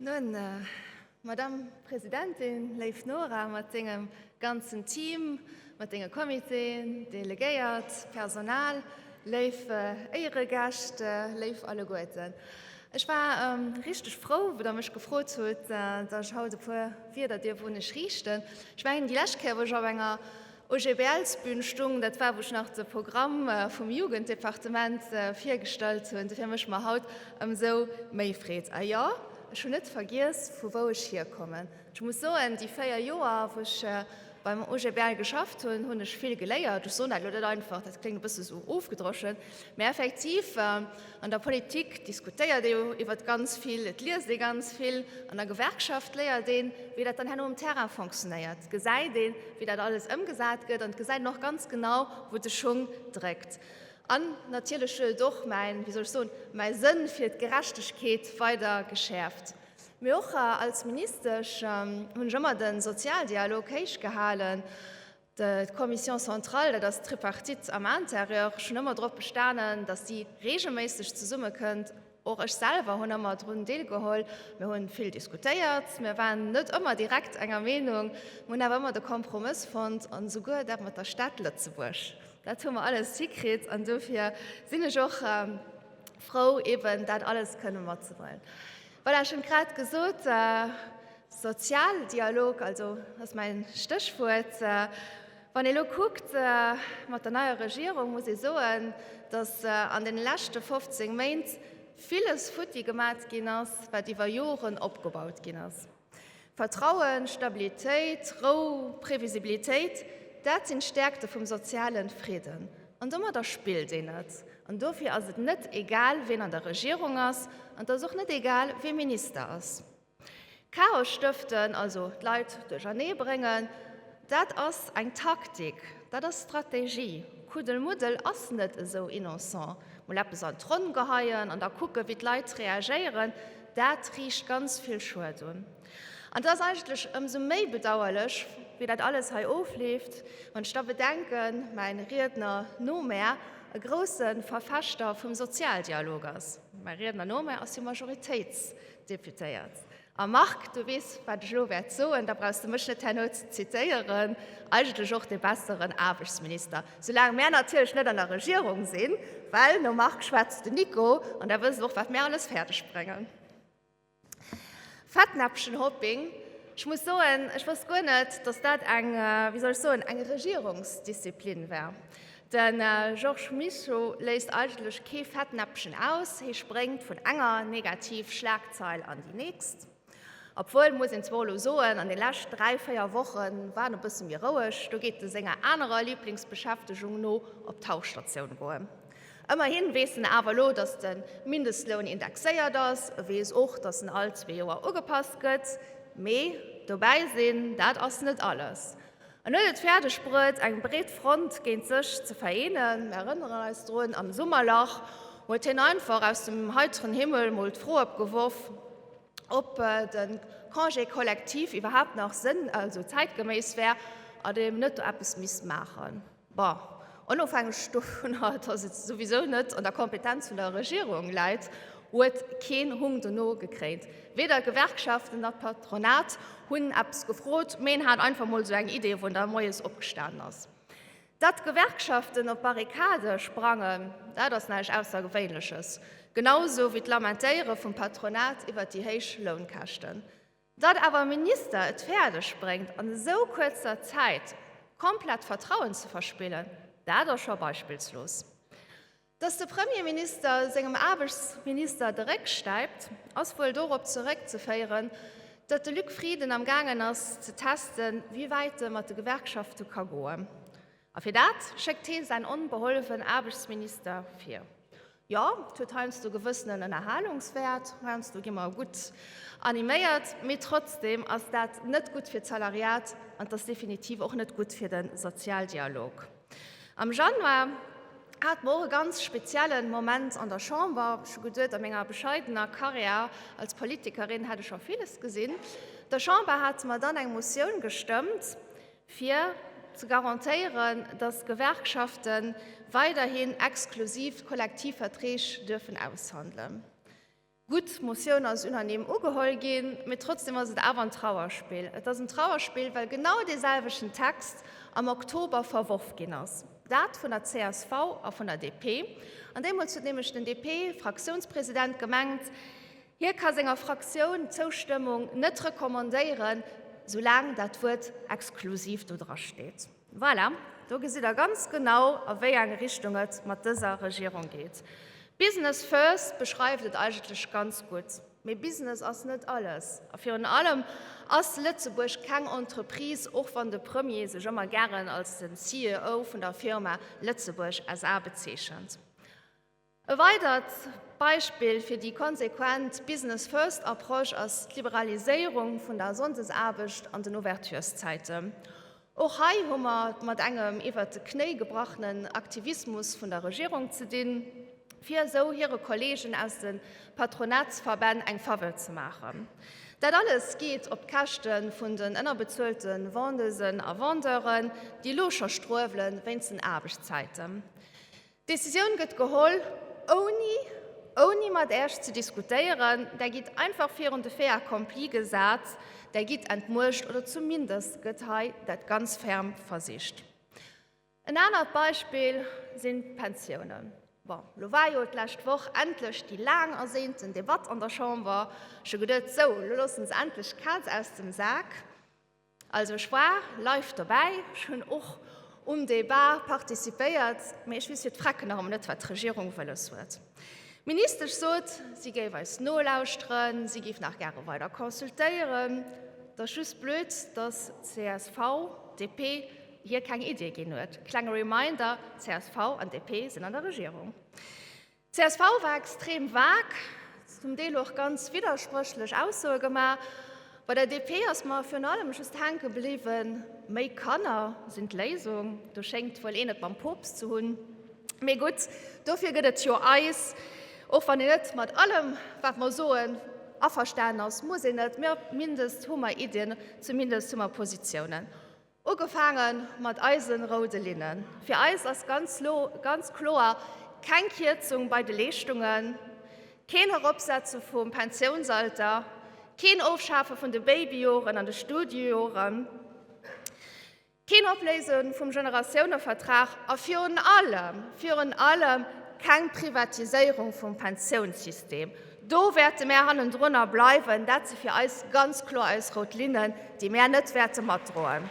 Nun, äh, Madame Presidentin, léif Nora mat dengem ganzen Team, mat denge Comitéen, Delegéiert, Personal, léif Éieregäscht, léif alleguerten. Ech war richteg frou, wou Der mech gefrot hutt, datt ech haut e puer Wierder dierf un Iech riichten. Ech mengen, déi lescht Kéier, wou ech op enger OGBL-sBün stoung, dat war, wou ech nach de Programm vum Jugenddepartement virgestallt hunn. Dofir mécht mer haut ëmsou méi Freed. A jo, ech hunn net vergiess, vu wou ech hierkommen. Ech muss soen, déi 4 Joer, wou ech beim OGBL geschafft hunn, hunn ech vill geléiert. Ech soen dat elo net einfach, dat kléngt e bësse sou ofgedroschen, mä effektiv, an der Politik diskutéiert ee jo iwwert ganz vill, et liest ee ganz vill, an der Gewerkschaft léiert een, wéi dat dann herno um Terrain fonctionnéiert. Et gesäit een, wéi dat alles ëmgesat gëtt, an et gesäit een och ganz genau, wou de Schung dréckt. An natierlech huet et och mäin, wéi soll ech soen, mäi Sënn fir d'Gerechtegkeet weider geschäerft. Mee och als Ministesch hunn ech ëmmer de Sozialdialog héich gehalen. D'Commission centrale, dat ass d'Tripartite am Intérieur, ech hunn ëmmer drop bestanen, datt déi reegelméisseg zesumme kënnt. Och ech selwer hunn ëmmer drun deelgeholl. Mir hu vill diskutéiert, mir waren net ëmmer direkt enger Meenung, mir hunn awer ëmmer de Kompromëss fonnt, an esouguer dat mat der Stad Lëtzebuerg. Dat hu mer alles hikritt an dofir sinn ech och frou eben dat alles kënne mat ze bréngen. Voilà, ech hunn et grad gesot, Sozialdialog, also ass mäin Stéchwuert. Wann ee elo kuckt mat der neier Regierung, muss ee soen, datt an deene leschte 15 Méint villes futti gemat ginn ass, wat iwwer Joren opgebaut ginn ass. Vertrauen, Stabilitéit, Rou, Previsibilitéit, dat sinn d'Stäerkte vum sozialen Friden. An domadder spillt een net. An dofir ass et net egal, wien an der Regierung ass, an et ass och net egal, wien Minister ass. Chaos stëften, also d'Leit duerchernee bréngen, Dat ass eng Taktik, dat ass Strategie. Kuddelmuddel ass net esou innocent. Mol eppes an d'Ronn geheien an da kucken, wéi d'Leit reagéieren, dat riicht ganz vill Schued un. An et ass eigentlech ëmsou méi bedauerlech, wéi dat alles hei ofleeft, wann ech da bedenken, mäi Riedner no mär e grouse Verfechter vum Sozialdialog ass, mäi Riedner no mär ass jo Majoritéitsdeputéiert, A Marc, du weess, wat ech elo wäert soen, da brauchs de mech net herno ze zitéieren, eigentlech och de besseren Aarbechtsminister, soulaang mär natierlech net an der Regierung sinn, well nom Marc schwätzt den Nico an da wësse se och, wat mär alles fäerdeg bréngen. Fettnäpfchenhopping, ech muss soen, ech wosst guer net, datt dat eng, wéi soll ech soen, eng Regierungsdisziplin wär. De Georges Mischo léisst eigentlech kee Fettnäppchen aus, hie spréngt vun enger negativ Schlagzeil an déi nächst. Obwuel, muss een zwar elo soen, an de lescht dräi, véier Woche war en e bësse méi roueg, do geet e senger anerer Liblingsbeschäftegung no, op d'Tauchstatioun goen. Ëmmerhi weess en awer elo, datt de Mindestloun indexéiert ass, e weess och, datt en all zwee Joer ugepasst gëtt. Mee dobäi sinn, dat ass net alles. En huet et fäerdeg bruet, eng breet Front géint sech ze vereenen. Mir erënneren eis drun, am Summerlach huet hien einfach aus dem heiteren Himmel mol d'Fro opgeworf, ob de Congé collectif iwwerhaapt nach sënn-, also zäitgeméiss wär an een net do eppes misst maachen. Bon, onofhängeg dovun, dass et souwisou net an der Kompetenz vun der Regierung läit, huet keen Hung dono gekréint. Weder d'Gewerkschaften nach d'Patronat hunn eppes gefrot, mee een hat einfach mol esou eng Idee, wou en da moies opgestanen ass. Datt d'Gewerkschaften op d'Barrikade sprangen, dat ass näischt Aussergewéinleches, genau esou wéi d'Lamentéiere vum Patronat iwwert déi héich Lounkäschten. Datt awer e Minister et fäerdeg bréngt an esou kuerzer Zäit komplett d'Vertrauen ze verspillen, dat ass scho beispillslos. Datt de Premierminister sengem Aarbechtsminister de Réck stäipt, ass wuel dorop zeréck ze féieren, datt de Luc Frieden am gaangen ass ze testen, wéi wäit e mat de Gewerkschafte ka goen. A fir dat schéckt hee säin onbehollefen Aarbechtsminister vir. Jo, et huet heiansdo gewëssenen Ënnerhalungswäert, heiansdo gi mer gutt animéiert, mee trotzdeem ass dat net gutt fir d'Salariat an et ass definitiv och net gutt fir de Sozialdialog. Am Januar hat mer och e ganz spezielle Moment an der Chamber. Ech hu geduet, a menger bescheidener Karriär als Politikerin hätt ech scho villes gesinn. Der Chamber hate mer dann eng Motioun gestëmmt, fir ze garantéieren, datt d'Gewerkschafte weiderhin exklusiv Kollektivverträg duerfen aushandelen. Gutt, d'Motioun ass unanime ugeholl ginn, mee trotzdeem ass et awer en Trauerspill. Et ass en Trauerspill, well genau deeselwechten Text am Oktober verworf ginn ass, dat vun der csv a vun der DP. An deemools huet nämlech den DP-Fraktiounspresident gemengt, Hie ka senger Fraktioun d'Zoustëmmung net recommandéieren, soulaang dat Wuert exklusiv do dra steet. Voilà, do gesitt Der ganz genau, a wéi eng Richtung et mat dëser Regierung geet. Business first beschreift et eigentlech ganz gutt. Mee Business ass net alles. A virun allem ass Lëtzebuerg keng Entreprise, och wann de Premier sech ëmmer gären als den CEO vun der Firma Lëtzebuerg SA. bezeechent. E weidert Beispill fir déi konsequent Business First Approche ass d'Liberaliséierung vun der Sonndesaarbecht an den Ouverturszäite. Och hei hu mer et mat engem iwwert de Knéi gebrachenen Aktivismus vun der Regierung ze dinn, fir esou hire Kollegen aus de Patronatsverbänn eng Faveur ze maachen. Dat alles geet op d'Käschte vun den ënnerbezuelte Vendeusen a Vendeuren, déi elo scho struewele wéinst den Aarbechtszäiten. D'Decisioun gëtt geholl, ouni, ouni mat Äech ze diskutéieren. Där gitt einfach virun de Fait accompli gesat, Där gitt entmuecht, oder zumindest gëtt hei dat ganz ferm versicht. En anert Beispill sinn d'Pensiounen. Bon, elo war jo d'lescht Woch endlech déi laang ersehnten Debatt an der Chamber. Ech hu geduet, Sou, elo loosse se endlech d'Kaz aus dem Sak. Also ech war live dobäi, ech hunn och um Débat participéiert, mee ech weess fir d'Frecken nach ëmmer net, wat d'Regierung wëlles huet. D'Ministesch sot, si géif eis nolauschteren, si géif nach gäre weider consultéieren. Et ass just blöd, dass csv, DP hir keng Iddie ginn huet. Klenge Reminder, csv an DP sinn an der Regierung. Csv war extrem vag, zum Deel och ganz widderspréchlech Aussoe gemaach. Bei der DP ass mer virun allem just hänke bliwwen, méi Kanner sinn d'Léisung. Do schéngt wuel een et mam Poopst ze hunn. Mee gutt, dofir gëtt et jo eis. Och wann een net mat allem, wat mer soen, averstanen ass, muss een net. Mee op mindest hu mer Iddien, zumindest hu mer Positiounen. Ugefaange mat eise roude Linnen. Fir eis ass ganz lo, ganz kloer, keng Kierzung bei de Leeschtungen, keen Eropsetze vum Pensiounsalter, keen Ofschafe vun de Babyjoren an de Studiejoren, keen Opléise vum Generatiounevertrag a virun allem, virun allem keng Privatiséierung vum Pensiounssystem. Do wäerte mär hannendrunner bleiwen. Dat si fir eis ganz kloer eis rout Linnen, déi mär net wäerte matdroen.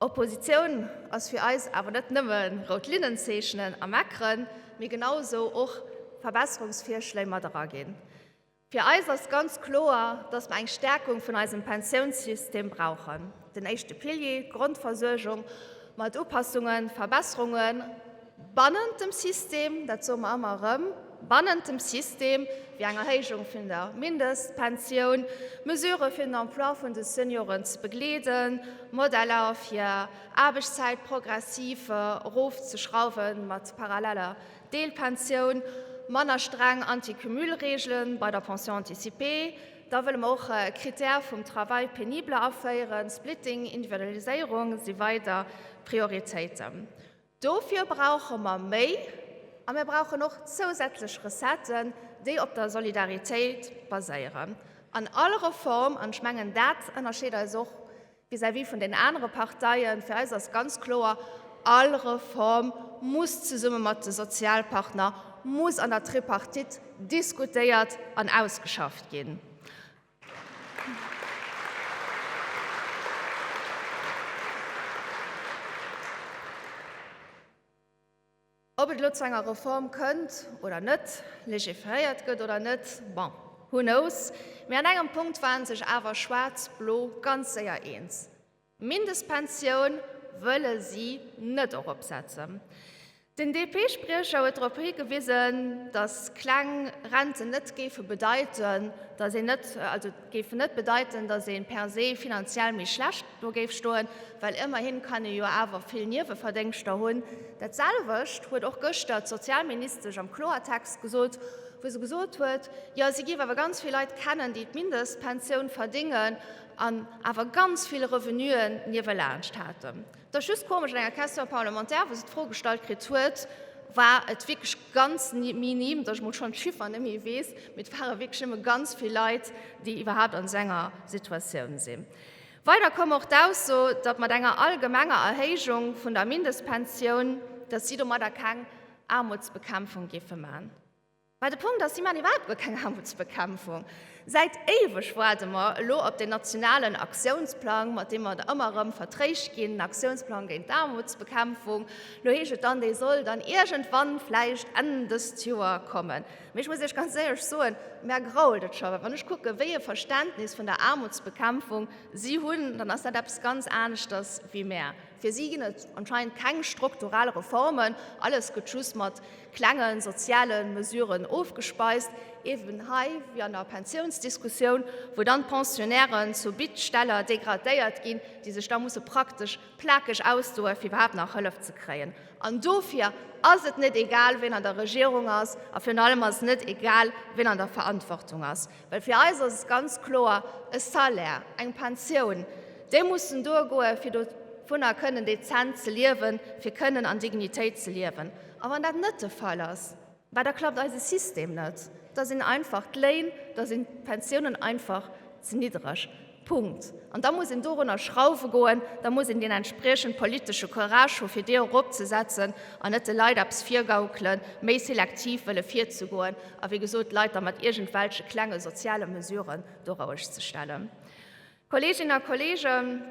Oppositioun ass fir eis awer net nëmme rout Linnen zeechnen a meckeren, mee genau esou och Verbesserungsvirschléi mat eraginn. Fir eis ass ganz kloer, dass mer eng Stärkung vun eisem Pensiounssystem brauchen, den éischte Pilier, d'Grondversuergung, mat Upassungen, Verbesserungen bannent dem System, dat soe mer ëmmer erëm, bannent dem System, wéi eng Erhéijung vun der Mindestpensioun, Mesurë fir den Emploi vun de Senioren ze begleeden, Modeller fir Aarbechtszäit progressiv erofzeschrauwen mat paralleller Deelpensioun, manner streng Anti-Cumul-Reegelen bei der Pension anticipée, da wëlle mer och e Critère vum Travail pénible aféieren, Splitting, Individualiséierung si weider Prioritéiten. Dofir brauche mer méi a mir brauchen och zousätzlech Recetten, déi op der Solidaritéit baséieren an all Reform, an ech mengen dat ënnerscheet eis och Vis-à-vis vun den anere Parteien, fir eis ass ganz kloer, All Reform muss zesumme mat de Sozialpartner, muss an der Tripartite diskutéiert an ausgeschafft ginn. Ob et elo zu enger Reform kënnt oder net, legiferéiert gëtt oder net, bon, who knows, mee an engem Punkt ware sech awer Schwaarz-Blo ganz séier eens, D'Mindestpensioun wëlle si net eropsetzen. Den DP-Spriecher huet drop higewisen, datt kleng Renten net géife bedeiten, datt een net, also. géifen net bedeiten, dass ee per se finanziell méi schlecht do géif stoen, well ëmmerhi kann ee jo awer vill Nieweverdéngschter hunn. Dat selwecht huet och gëschter d'Sozialministesch am Kloertext gesot, wou se gesot huet, jo si géif awer ganz vill Leit kennen, déi d'Mindestpensioun verdéngen an awer ganz vill Revenuen niewelaanscht haten. Et ass just komesch, an enger Question parlementaire, wou se d'Fro gestallt kritt huet, war et wierklech ganz minim, datt ech mol schonn d'Chiffern net méi weess, mee et ware wierklech nëmme ganz vill Leit, déi iwwerhaupt an esou enger Situatioun sinn. Weider koum och d'Ausso, datt mat enger allgemenger Erhéijung vun der Mindestpensioun, datt si domadder keng Aarmutsbekämpfung géife maachen. Mä de Punkt ass, si maachen iwwerhaupt guer keng Aarmutsbekämpfung. Säit éiweg waarde mer elo op deen nationalen Aktiounsplang, mat deem mer da ëmmer erëm vertréischt ginn, Aktiounsplang géint d'Aarmutsbekämpfung. Elo heescht et dann, dee soll dann iergendwann vläicht Enn dëst Joer kommen. Mä ech muss Iech ganz éierlech soen, mär grault et scho, well wann ech kucke wéi e Verständnis vun der Aarmutsbekämpfung si hunn, dann ass dat eppes ganz aneschters wéi mär. Fir si ginn et anscheinend keng strukturell Reformen, alles gëtt just mat klenge soziale Mesuren ofgespeist, eeben hei wéi an der Pensiounsdiskussioun, wou dann d'Pensionnairen zu Bittsteller degradéiert ginn, déi sech da musse praktesch plakeg ausdoen, fir iwwerhaapt nach Hëllef ze kréien. An dofir ass et net egal, wien an der Regierung ass, a virun allem ass et net egal, wien an der Verantwortung ass. Well fir eis ass et ganz kloer, E Salaire, eng Pensioun, déi mussen duergoen, fir dovunner kënnen dezent ze liewen, fir kënnen an Dignitéit ze liewen. A wann dat net de Fall ass, well da klappt eise System net, da sinn einfach d'Léin, da sinn d'Pensiounen einfach ze niddereg. Punkt. An da muss een dorunner schrauwe goen, da muss een deen entspriechend politesche Courage hu fir déi eropzesetzen an net de Leit eppes virgaukele méi selektiv wëlle virzegoen a wéi gesot d'Leit da mat iergendwelche klenge soziale Mesuren do rouegzestellen. Kolleeginnen a Kolleegen,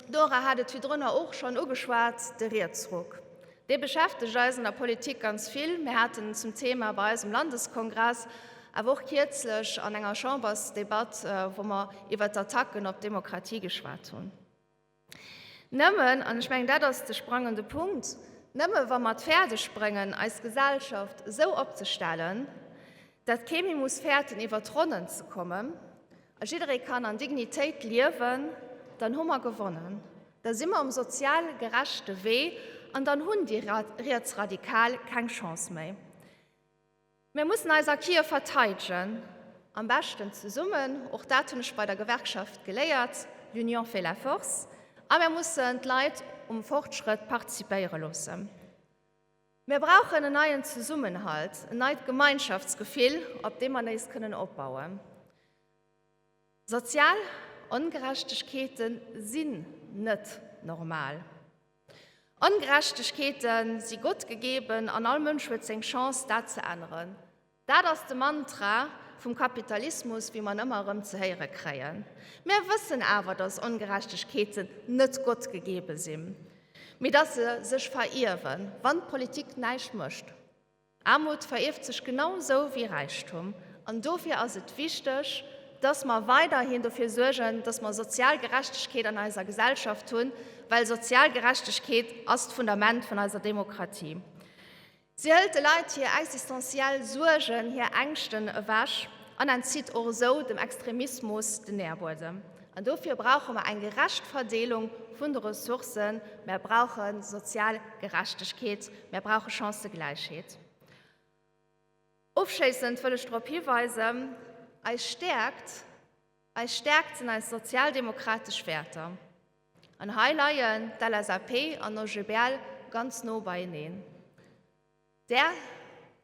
d'Nora hat et virdrunner och schonn ugeschwat, de Rietsruck, dee beschäftegt eis an der Politik ganz vill. Mir haten en zum Thema bei eisem Landeskongress, awer och kierzlech an enger Chambersdebatt, wou mer iwwert d'Attacken op d'Demokratie geschwat hunn. Nëmmen, an ech mengen, dat ass de sprangende Punkt, nëmme wa mer et fäerdeg bréngen, eis Gesellschaft esou opzestellen, datt kee méi muss fäerten, iwwer d'Ronnen ze kommen, A jidderee kann an Dignitéit liewen, dann hu mer gewonnen. Da si mer um sozial gerechte Wee an dann hunn déi Rietsradikal keng Chance méi. Mir mussen eis a Kiew verteidegen, am beschten zesummen, och dat hunn ech bei der Gewerkschaft geléiert, l'union fait la force, a mir mussen d'Leit um Fortschrëtt participéiere loossen. Mir brauchen en neien Zesummenhalt, en neit Gemeinschaftsgefill, op deem mer nees kënnen opbauen. Sozial Ongerechtegkeete sinn net normal. Ongerechtegkeete si Gott gegeben an all Mënsch huet seng Chance, dat ze änneren. Dat ass de Mantra vum Kapitalismus, wéi mer en ëmmer erëm ze héiere kréien. Mir wëssen awer, dass Ongerechtegkeeten net Gott gegebe sinn, mee dass se sech verierwen, wann d'Politik näischt mécht. Aarmut verierft sech genau esou wéi Räichtum. An dofir ass et wichteg, dass mer weiderhin dofir suergen, dass mer sozial Gerechtegkeet an eiser Gesellschaft hunn, well sozial Gerechtegkeet ass d'Fundament vun eiser Demokratie. Si hëlt de Leit hir existenziell Suergen, hir Ängschten ewech an entzitt och esou dem Extremismus den Nährbuedem. An dofir brauche mer eng gerecht Verdeelung vun de Ressourcen, mer brauche sozial Gerechtegkeet, mer brauche Chancëgläichheet. Ofschéissend wëll ech drop hiweisen, Eis Stäerkt, Eis Stärkt sinn eis sozialdemokratesch Wäerter. An hei leien d'LSAP an d'OGBL ganz no beieneen. Där,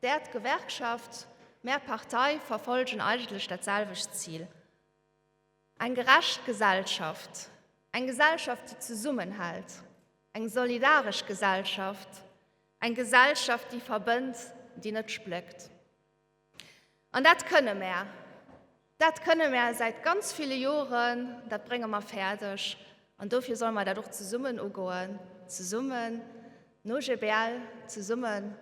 där, d'Gewerkschaft, mär Partei verfollegen eigentlech dat selwecht Zil, eng gerecht Gesellschaft, eng Gesellschaft, déi zesummenhält, eng solidaresch Gesellschaft, eng Gesellschaft, déi verbënnt, déi net spléckt. An dat kënne mär. Dat kënne mär säit ganz ville Joren, dat brénge mer fäerdeg an dofir solle mer dat och zesummen ugoen, zesummen no GBL, zesumme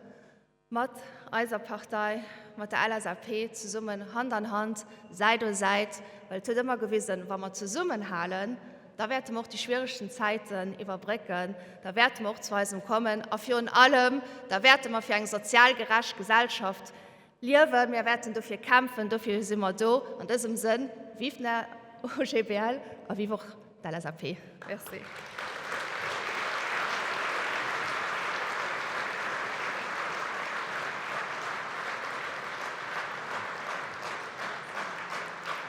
mat eiser Partei, mat der LSAP, zesummen Hand an Hand, Säit u Säit, well et huet ëmmer gewisen, wa mer zesummenhalen, Da wäerte mer och déi schwieregsten Zäiten iwwerbrécken, da wäerte mer och zu eisem kommen a virun allem, da wäerte mer fir eng sozial gerecht Gesellschaft liewen. Mir wäerten dofir kämpfen, dofir si mer do. An dësem Sënn, vive den OGBL a vive och d'LSAP. Merci.